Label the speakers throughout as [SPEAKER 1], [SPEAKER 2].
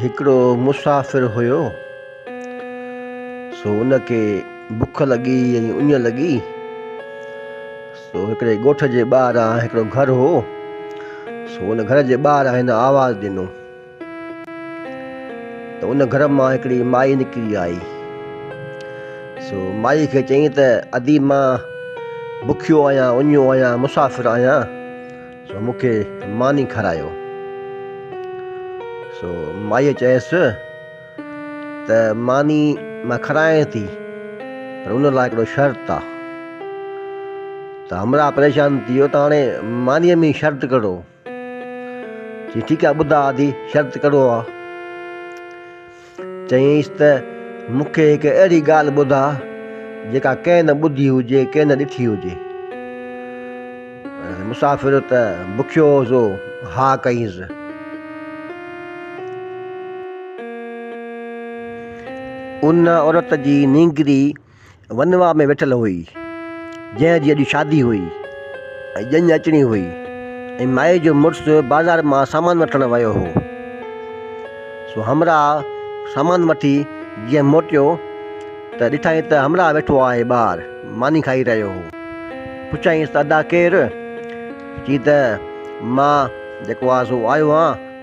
[SPEAKER 1] هڪڙو مسافر هيو، سو ان کي بک لڳي ۽ اڃ لڳي، سو هڪڙي ڳوٺ جي ٻاهران هڪڙو گهر هو، سو ان گهر جي ٻاهران هن آواز ڏنو ته ان گهر مان هڪڙي مائي نڪري آئي، سو مائي کي چيائين ته ادي مان بکيو آهيان، اڃو آهيان، مسافر آهيان. سو مون کي ماني کارايو. سو مائيء چيس ته ماني مان کارائين ٿي پر ان لاء هڪڙو شرط آ. ته همراهه پريشان ٿي ويو ته هاڻي مانيء ۾ شرط ڪهڙو؟ چي ٺيڪ آ ٻڌا آڌي شرط ڪهڙو آ؟ چيائينس ته مون کي هڪ اهڙي ڳالهه ٻڌاء جيڪا ڪنهن نه ٻڌي هجي ڪنهن نه ڏٺي هجي. مسافر ته بکيو سو ها ڪيس. ان عورت جي نينگري ونواهه ۾ ويٺل هئي، جنهن جي اڄ شادي هئي ۽ ڄڃ اچڻي هئي ۽ مائي جو مڙس بازار مان سامان وٺڻ ويو هو، سو همراهه سامان وٺي جيئن موٽيو ته ڏٺائين ته همراهه ويٺو آهي ٻاهر ماني کائي رهيو هو، پڇيائينس ته ادا ڪير؟ چي ته مان جيڪو آهي سو آيو آهيان،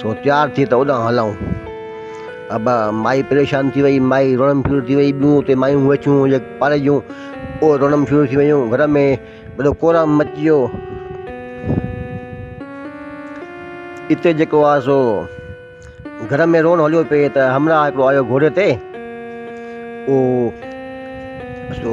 [SPEAKER 1] سو تيار ٿي ته اوڏانهن هلئون. ابا مائي پريشان ٿي وئي، مائي روئڻ ڦيور ٿي وئي، ٻيون اتي مايون ويٺيون هيون جيڪي پاڙي جون، اهي روئڻ ڦيور ٿي ويون، گهر ۾ وڏو ڪورام مچي ويو. اتي جيڪو آهي سو گهر ۾ روئڻ هليو پئي ته همراهه هڪڙو آيو گهوڙي تي، اهو سو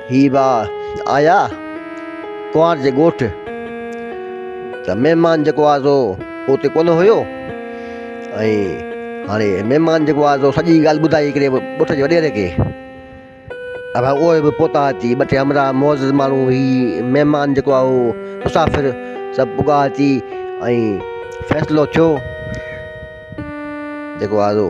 [SPEAKER 1] هي ڀاء آيا ڪنوار جي ڳوٺ ته مهمان جيڪو آيو سو اتي ڪونه هيو ۽ هاڻي مهمان جيڪو آيو سو سڄي ڳالهه ٻڌائي هڪڙي ڳوٺ جي وڏيري کي ته ڀاء اهي به پهتا اچي ٻه ٽي همراهه معزز ماڻهو هي مهمان جيڪو آيو هو مسافر سڀ پڳا اچي ۽ فيصلو ٿيو جيڪو آيو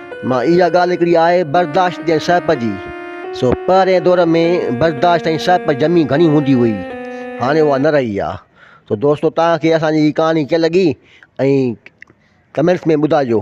[SPEAKER 1] مان اها ڳالهه هڪڙي آهي برداشت جي سهپ جي، سو پهرئين دور ۾ برداشت ۽ سهپ جمي گهڻي هوندي هئي، هاڻي اها نه رهي آهي. سو دوستو توهان کي اسان جي هي ڪهاڻي ڪيئن لڳي ۽ ڪمينٽس ۾ ٻڌائجو.